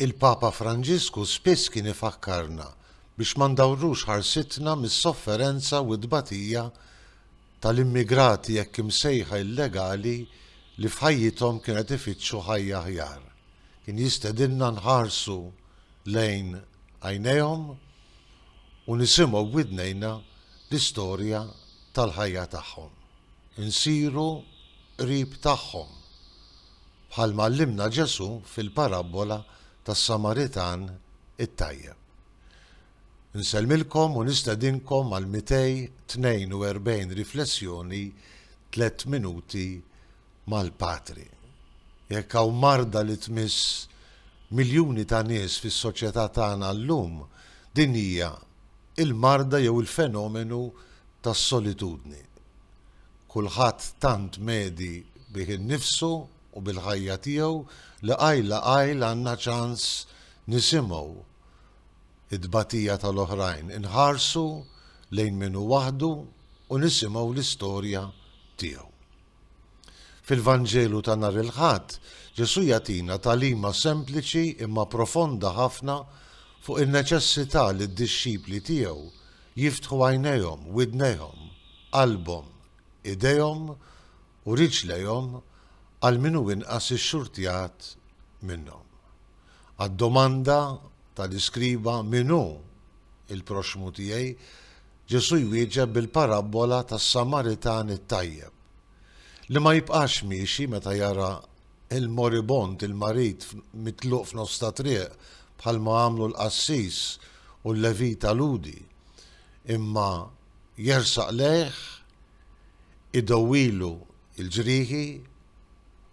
Il-Papa Franġisku spiss kien ifakkarna biex ma ndawrux ħarsitna mis-sofferenza u t-tbatija tal-immigrati hekk imsejħa illegali li f'ħajjithom kien qed ifittxu ħajja aħjar. Kien jistedinna nħarsu lejn għajnejhom u nisimgħu b'widnejna l-istorja tal-ħajja tagħhom. Insiru qrib tagħhom. bħalma għallimna Ġesù fil-parabbola tas-Samaritan it-tajjeb. Nsellmilkom u nistedinkom għall-242 riflessjoni Tliet Minuti mal-Patri. Jekk hawn marda li tmiss miljuni ta' nies fis-soċjetà tagħna llum, din hija l-marda jew il-fenomenu tas-solitudni. Kulħadd tant medi bih innifsu u bil-ħajja tiegħu li qajl la qajl għandna ċans nisimgħu t-tbatija tal-oħrajn, inħarsu lejn min hu waħdu u nisimgħu l-istorja tiegħu. Fil-Vanġelu ta' nhar il-Ħadd, Ġesù jagħtina tagħlima sempliċi imma profonda ħafna fuq in-neċessità li d-dixxipli tiegħu jiftħu għajnejhom, widnejhom, qalbhom, idejhom u riġlejhom għal min hu inqas ixxurtjat minnhom. Għad-domanda tal-iskriba min hu l-proxxmu tiegħi, Ġesù jwieġeb bil-parabbola tas-Samaritan it-tajjeb, li ma jibqax miexi meta jara il-moribond, il-marid mitluq f'nofs ta' triq, bħalma għamlu l-qassis u l-Levita Lhudi, imma jersaq lejh, idawwilu l-ġrieħi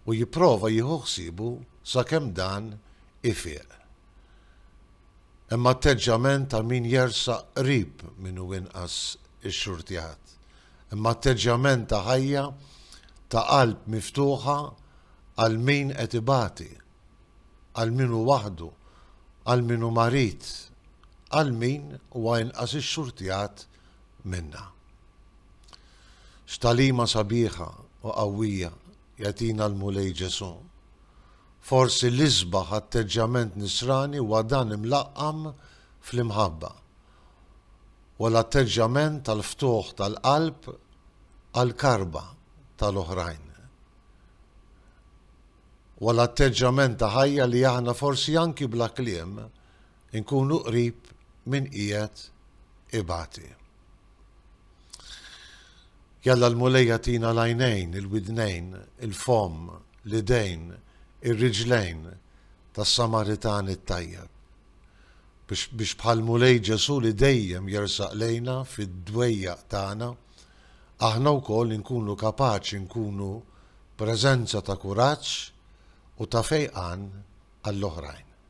u jipprova jieħu ħsiebu sakemm dan ifieq. Hemm atteġġjament ta' min jersaq qrib min hu inqas ixxurtjat. Hemm atteġġjament ta' ħajja ta' qalb miftuħa għal min qed ibati, għal min hu waħdu, għal min hu marid, għal min huwa inqas ixxurtjat minna. X'tagħlima sabiħa u qawwija Jagħtina l-Mulej Ġesù. Forsi l-isbaħ atteġġjament nisrani huwa dan imlaqqam fl-imħabba. Huwa l-atteġġjament tal-ftuħ tal-qalb għall-karba tal-oħrajn. Huwa l-atteġġjament ta' ħajja li aħna forsi anki bla kliem inkunu qrib min qiegħed ibati. Jalla l-Mulej jagħtina l-għajnejn, il-widnejn, il-fomm, l-idejn, ir-riġlejn tas-Samaritan it-tajjeb biex bħal Mulej Ġesu li dejjem jersaq lejna fid-dwejjaq tagħna, aħna wkoll inkunu kapaċi nkunu preżenza ta' kuraġġ u ta' fejqan għall-oħrajn.